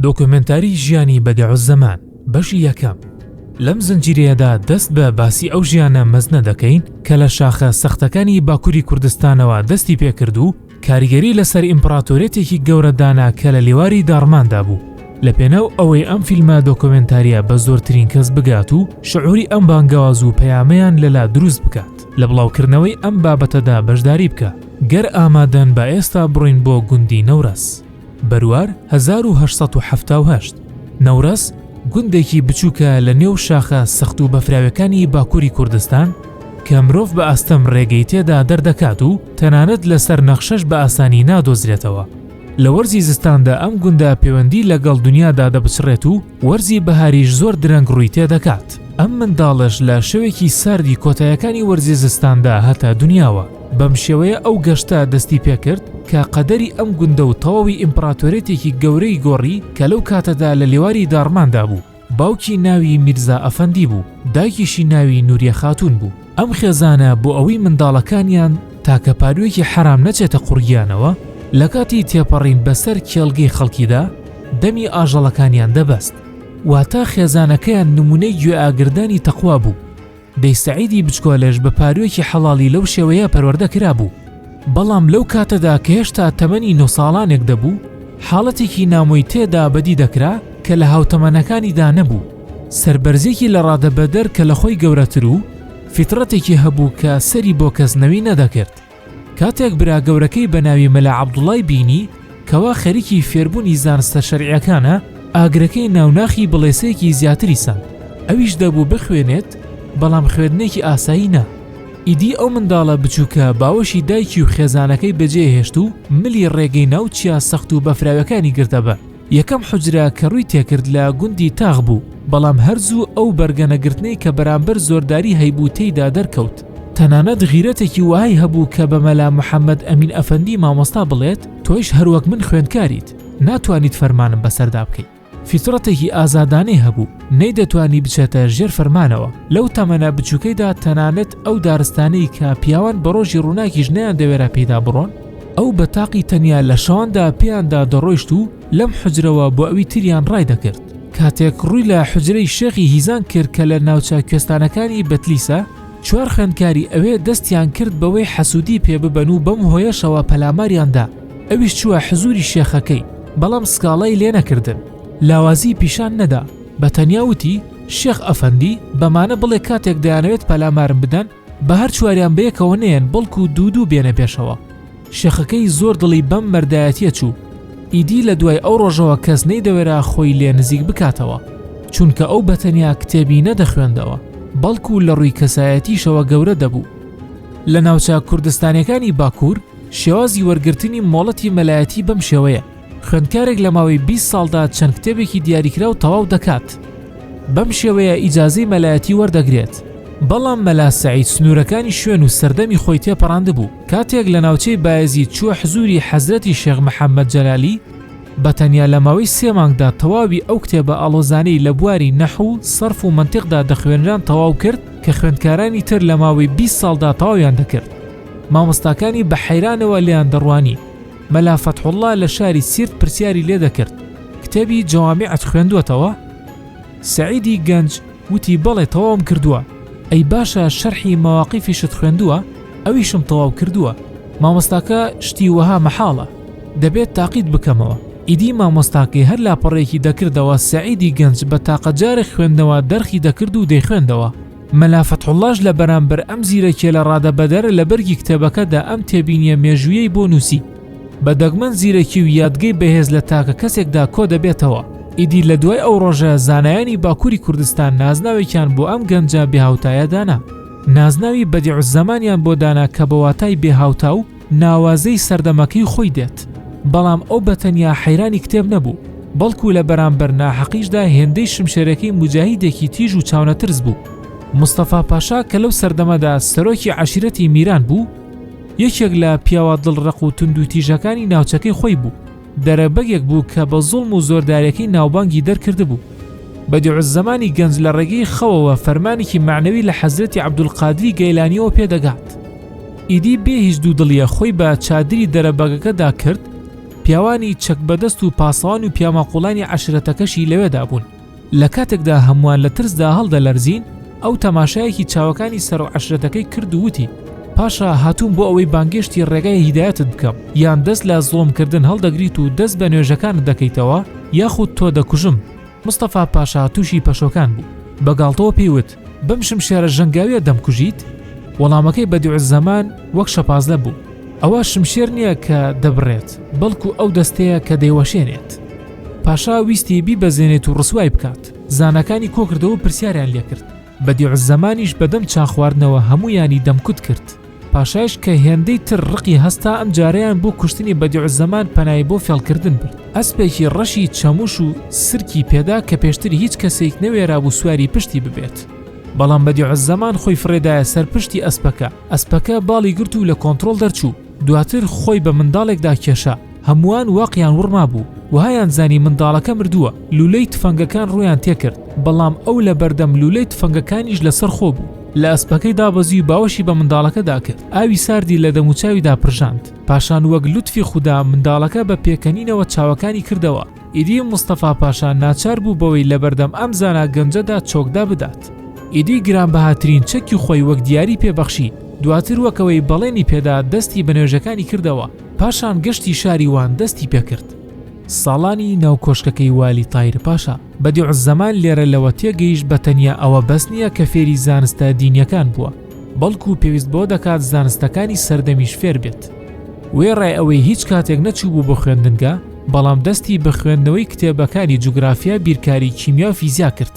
دۆکۆمێنتاری ژیانی بەدیعوزەمان بەشی یەکەم لەم زنجیرەیەدا دەست بە باسی ئەو ژیانە مەزنە دەکەین کە لە شاخە سەختەکانی باکووری کوردستانەوە دەستی پێکرد و کاریگەری لەسەر ئیمپڕاتۆریەتێکی گەورە دانا کە لە لێواری داڕماندا بوو لە پێناو ئەوەی ئەم فیلمە دۆکۆمێنتاریە بە زۆرترین کەس بگات و شعوری ئەم بانگەواز و پەیامەیان لەلا دروست بکات لە بڵاوکردنەوەی ئەم بابەتەدا بەشداری بکە گەر ئامادەن بە ئێستا بڕۆین بۆ گوندی نەورەس. بەروار هەزار و هەشت سەد و حەفتا و هەشت، نەورەس، گوندێکی بچووکە لە نێو شاخە سەخت و بەفراویەکانی باکووری کوردستان کە مرۆڤ بە ئاستەم رێگەی تێدا دەردەکات و تەنانەت لەسەر نەخشەش بە ئاسانی نادۆزرێتەوە. لە وەرزی زستاندا ئەم گوندە پێوەندی لەگەڵ دنیادا دەبچڕێت و، وەرزی بەهاریش زۆر درەنگ ڕووی تێدەکات، ئەم منداڵەش لە شەوێکی ساردی کۆتایەکانی وەرزی زستاندا هاتە دونیاوە، بەم شێوەیە ئەو گەشتە دەستی پێکرد کە قەدەری ئەم گوندە و تەواوی ئیمپڕاتۆریەتێکی گەورەی گۆڕی کە لەو کاتەدا لە لێواری داڕماندا بوو، باوکی ناوی میرزا ئەفەندی بوو، دایکیشی ناوی نوریە خاتوون بوو. ئەم خێزانە بۆ ئەوەی منداڵەکانیان تاکە پاروویەکی حەرام نەچێتە قوڕگیانەوە، لە کاتی تێپەڕین بەسەر کێڵگەی خەڵکیدا دەمی ئاژەڵەکانیان دەبەست، واتە خێزانەکەیان نموونەی گوێئاگردانی تەقوا بوو. دەی سەعیدی بچکۆلەش بە پاروویەکی حەڵاڵی لەو شێوەیە پەروەردە کرابوو. بەڵام لەو کاتەدا کە هێشتا تەمەنی نۆ ساڵانێک دەبوو، حاڵەتێکی نامۆی تێدا بەدی دەکرا کە لە هاوتەمەنەکانیدا نەبوو. سەربەرزێکی لەڕادەبەدەر کە لەخۆی گەورەتر و فیتڕەتێکی هەبوو کە سەری بۆ کەس نەوی نەدەکرد. کاتێک برا گەورەکەی بەناوی مەلا عەبدوڵای بینی کەوا خەریکی فێربوونی زانستە شەرعیەکانە، ئاگرەکەی ناو ناخی بڵێسەیەکی زیاتری سەند. ئەویش دەبوو بخوێنێت بەڵام خوێندنێکی ئاسایی نا. ئیدی ئەو منداڵە بچووکە باوەشی دایکی و خێزانەکەی بەجێهێشت و ملی ڕێگەی ناو چیا سەخت و بەفراوەکانی گرتە بەر. یەکەم حوجرە کە ڕووی تێکرد لە گوندی تاغ بوو، بەڵام هەر زوو ئەو بەرگەنەگرتنەی کە بەرامبەر زۆرداری هەیبوو تێیدا دەرکەوت. تەنانەت غیرەتێکی وەهای هەبوو کە بە مەلا محەممەد ئەمین ئەفەندی مامۆستا بڵێت، تۆیش هەر وەک من خوێندکاریت، ناتوانیت فەرمانم بەسەردا بکەیت. فیتڕەتێکی ئازادانەی هەبوو، نەیدەتوانی بچێتە ژێر فەرمانەوە. لەو تەمەنە بچووکەیدا تەنانەت ئەو دارستانەی کە پیاوان بە ڕۆژی ڕووناکیش نەیاندەوێرا پێیدا بڕۆن، ئەو بە تاقی تەنیا لە شاندا پێیاندا دەڕۆیشت و لەم حجرەوە بۆ ئەوی تریان ڕای دەکرد کاتێک ڕووی لە حجرەی شێخی هیزان کرد کە لە ناوچە کوێستانەکانی بەتلیسە چوار خوێندکاری ئەوێ دەستیان کرد بەوەی حەسوودی پێ ببەن و بەم هۆیەشەوە پەلاماریان دا ئەویش چووە حزووری شێخەکەی بەڵام سکاڵای لێ نەکردن لاوازی پیشان نەدا بە تەنیا وتی شێخ ئەفەندی بەمانە بڵێ کاتێک دەیانەوێت پەلامارم بدەن با هەر چواریان بەیەکەوە نێن بەڵکو دوو دوو بێنە پێشەوە شێخەکەی زۆر دڵی بەم مەردایەتیە چوو ئیدی لە دوای ئەو ڕۆژەوە کەس نەیدەوێرا خۆی لێ نزیک بکاتەوە چونکە ئەو بەتەنیا کتێبی نەدەخوێندەوە بەڵکو لە ڕووی کەسایەتیشەوە گەورە دەبوو لە ناوچە کوردستانەکانی باکوور شێوازی وەرگرتنی مۆڵەتی مەلایەتی بەم شێوەیە خوێندکارێک لە ماوەی بیست ساڵدا چەند کتێبێکی دیاریکراو تەواو دەکات بەم شێوەیە ئیجازەی مەلایەتی وەردەگرێت بەڵام مەلا سعید سنوورەکانی شوێن و سەردەمی خۆی تێپەڕاند بوو کاتێک لە ناوچەی بایزی چووە حزوری حەزرەتی شێخ محەممەد جەلالی بە تەنیا لە ماوەی سێ مانگدا تەواوی ئەو کتێبە ئاڵۆزانەی لە بواری نەح و سەرف و منتیقدا دەخوێنران تەواو کرد کە خوێندکارانی تر لە ماوەی بیست ساڵدا تەواویان دەکرد مامۆستاکانی بە حەیرانەوە لێیان دەڕوانی مەلا فەتحوڵڵا لە شاری سیرت پرسیاری لێ دەکرد، کتێبی جەوامیعت خوێندووەتەوە؟ سەعیدی گەنج وتی بەڵێ تەواوم کردووە، ئەی باشە شەرحی مەواقیفیشت خوێندووە؟ ئەویشم تەواو کردووە. مامۆستاکە شتی وەها مەحاڵە، دەبێت تاقیت بکەمەوە. ئیدی مامۆستاکەی هەر لاپەڕەیەکی دەکردەوە، سەعیدی گەنج بە تاقە جارێک خوێندنەوە دەرخی دەکرد و دەیخوێندەوە. مەلا فەتحوڵاش لە بەرامبەر ئەم زیرەکیە لە ڕادە بەدەرە لە بەرگی کتێبەکەدا ئەم تێبینیە مێژویەی بۆ نووسی بە دەگمەن زیرەکی و یادگەی بەهێز لە تاکە کەسێکدا کۆ دەبێتەوە ئیدی لە دوای ئەو ڕۆژە زانایانی باکووری کوردستان نازناوێکیان بۆ ئەم گەنجە بێهاوتایە دانا نازناوی بەدیع زەمانیان بۆ دانا کە بە واتای بێهاوتا و ناوازەی سەردەمەکەی خۆی دێت، بەڵام ئەو بەتەنیا حەیرانی کتێب نەبوو، بەڵکو لە بەرامبەر ناحەقیشدا هێندەی شمشێرەکەی موجاهیدێکی تیژ و چاونەترس بوو. مستەفا پاشا کە لەو سەردەمەدا سەرۆکی عەشیرەتی میران بوو، یەکێک لە پیاوە دڵڕەق و توندوتیژەکانی ناوچەکەی خۆی بوو، دەرەبەگێک بوو کە بە زوڵم و زۆرداریەکەی ناوبانگی دەرکردبوو. بەدیعوزەمانی گەنج لە ڕێگەی خەوەوە فەرمانێکی مەعنەوی لە حەزرەتی عەبدولقادری گەیلانیەوە پێ دەگات. ئیدی بێ هیچ دوودڵیە خۆی بە چادری دەرەبەگەکەدا کرد، پیاوانی چەک بەدەست و پاسەوان و پیاماقوڵانی عەشرەتەکەشی لەوێدا بوون. لە کاتێکدا هەمووان لە ترسدا هەڵدەلەرزین، ئەو تەماشایەکی چاوەکانی سەرۆ عەشرەتەکەی کرد و وتی، پاشا، هاتووم بۆ ئەوەی بانگێشتی ڕێگای هیدایەتت بکەم، یان دەست لە زوڵمکردن هەڵدەگریت و دەست بە نوێژەکانت دەکەیتەوە، یاخود تۆ دەکوژم. مستەفا پاشا تووشی پەشۆکان بوو، بە گاڵتەوە پێی وت، بەم شمشێرە ژەنگاویە دەمکوژیت؟ وەڵامەکەی بەدیعزەمان وەک شەپازلە بوو ئەوە شمشێر نییە کە دەبڕێت بەڵکو ئەو دەستەیە کە دەیوەشێنێت پاشا ویستی بیبەزێنێت و ڕسوای بکات زانەکانی کۆکردەوە پرسیاریان لێکرد بەدیعزەمانیش بەدەم چاخواردنەوە هەمویانی دەمکوت کرد پاشایش کە هێندەی تر ڕقی هەستا ئەم جارەیان بۆ کوشتنی بەدیعوزەمان پەنای بۆ فێڵکردن برد ئەسپێکی ڕەشی چەموش و سرکی پێدا کە پێشتر هیچ کەسێک نەوێرابوو سواری پشتی ببێت بەڵام بەدیعوزەمان خۆی فڕێدایە سەر پشتی ئەسپەکە ئەسپەکە باڵی گرت و لە کۆنترۆڵ دەرچوو دواتر خۆی بە منداڵێکدا کێشا هەمووان واقیان وڕما بوو وهایان زانی منداڵەکە مردووە لولەی تفەنگەکان ڕوویان تێکرد بەڵام ئەو لە بەردەم لولەی تفەنگەکانیش لەسەر خۆ بوو لە ئەسپەکەی دابەزیو باوەشی بە منداڵەکەدا کرد ئاوی ساردی لە دەموچاویدا پرژاند پاشان وەک لوتفی خودا منداڵەکە بە پێکەنینەوە چاوەکانی کردەوە ئیدی مستەفا پاشا ناچار بوو بەوەی لە بەردەم ئەم زانا گەنجەدا چۆکدا بدات ئیدی گرانبەهاترین چەکی خۆی وەک دیاری پێبەخشی دواتر وەکەوەی بەڵێنی پێدا دەستی بە نوێژەکانی کردەوە پاشان گەشتی شاری وان دەستی پێکرد. ساڵانی ناو کۆشکەکەی والی تایر پاشا. بەدیعوزەمان لێرە لەوە تێگەیشت بە تەنیا ئەوە بەس نییە کە فێری زانستە دینییەکان بووە، بەڵکوو پێویست بەوە دەکات زانستەکانی سەردەمیش فێر بێت. وێڕای ئەوەی هیچ کاتێک نەچووبوو بۆ خوێندنگە، بەڵام دەستی بە خوێندنەوەی کتێبەکانی جوگرافیا، بیرکاری، کیمیا و فیزیا کرد.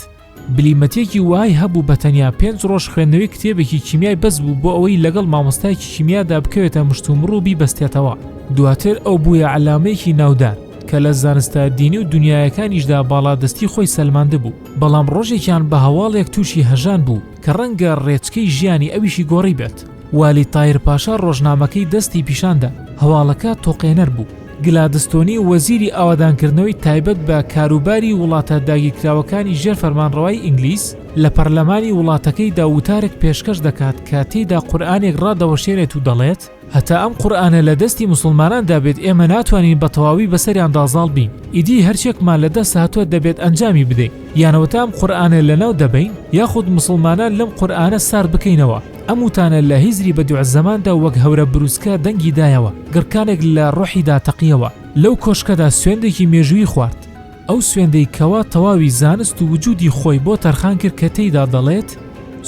بلیمەتێکی وای هەبوو بە تەنیا پێنج ڕۆژ خوێندنەوەی کتێبێکی کیمیای بەس بوو بۆ ئەوەی لەگەڵ مامۆستایکی کیمیادا بکەوێتە مشتومڕ و بیبەستێتەوە دواتر ئەو بووە عەلامەیەکی ناودار کە لە زانستە دینی و دنیایەکانیشدا باڵادەستی خۆی سەلماندبوو بەڵام ڕۆژێکیان بە هەواڵێک تووشی هەژان بوو کە ڕەنگە ڕێچکەی ژیانی ئەویشی گۆڕی بێت والی تایر پاشا ڕۆژنامەکەی دەستی پیشان دا، هەواڵەکە تۆقێنەر بوو. گلادستۆنی وەزیری ئاوەدانکردنەوەی تایبەت بە کاروباری وڵاتە داگیرکراوەکانی ژێر فەرمانڕەوای ئینگلیس لە پەرلەمانی وڵاتەکەیدا وتارێک پێشکەش دەکات کە تێیدا قورئانێک ڕادەوەشێنێت و دەڵێت هەتا ئەم قورئانە لە دەستی موسڵماناندا بێت ئێمە ناتوانین بە تەواوی بەسەریاندا زاڵ بین ئیدی هەرچێکمان لە دەست هاتووە دەبێت ئەنجامی بدەین یانەوەتا ئەم قورئانە لەناو دەبەین یاخود موسڵمانان لەم قورئانە سار بکەینەوە ئەم وتانە لە هیزری بەدیعوزەماندا وەک هەورە بروسکە دەنگی دایەوە، گڕکانێک لە ڕۆحیدا تەقیەوە، لەو کۆشکەدا سوێندێکی مێژوویی خوارد، ئەو سوێندەی کەوا تەواوی زانست و وجودی خۆی بۆ تەرخان کرد کە تێیدا دەڵێت،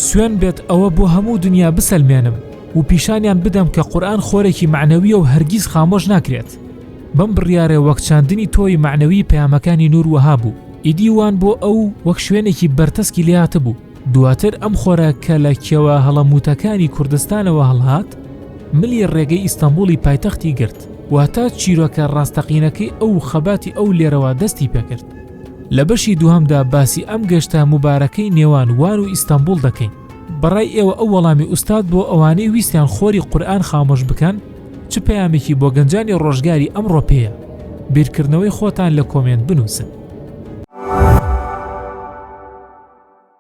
سوێند بێت ئەوە بۆ هەموو دنیا بسەلمێنم و پیشانیان بدەم کە قورئان خۆرێکی مەعنەوییە و هەرگیز خامۆش ناکرێت. بەم بڕیارەی وەک چاندنی تۆوی مەعنەویی پەیامەکانی نوور وەها بوو، ئیدی وان بۆ ئەو وەک شوێنێکی بەرتەسکی لێهاتبوو، دواتر ئەم خۆرە کە لە کێوە هەڵەمووتەکانی کوردستانەوە هەڵهات، ملی ڕێگەی ئیستەنبوڵی پایتەختی گرت، واتە چیرۆکە ڕاستەقینەکەی ئەو و خەباتی ئەو لێرەوە دەستی پێکرد. لە بەشی دووهەمدا باسی ئەم گەشتە موبارەکەی نێوان وان و ئیستەنبوڵ دەکەین. بەڕای ئێوە ئەو وەڵامی ئوستاد بۆ ئەوانەی ویستیان خۆری قورئان خامۆش بکەن چ پەیامێکی بۆ گەنجانی ڕۆژگاری ئەمڕۆ پێیە؟ بیرکردنەوەی خۆتان لە کۆمێنت بنووسن.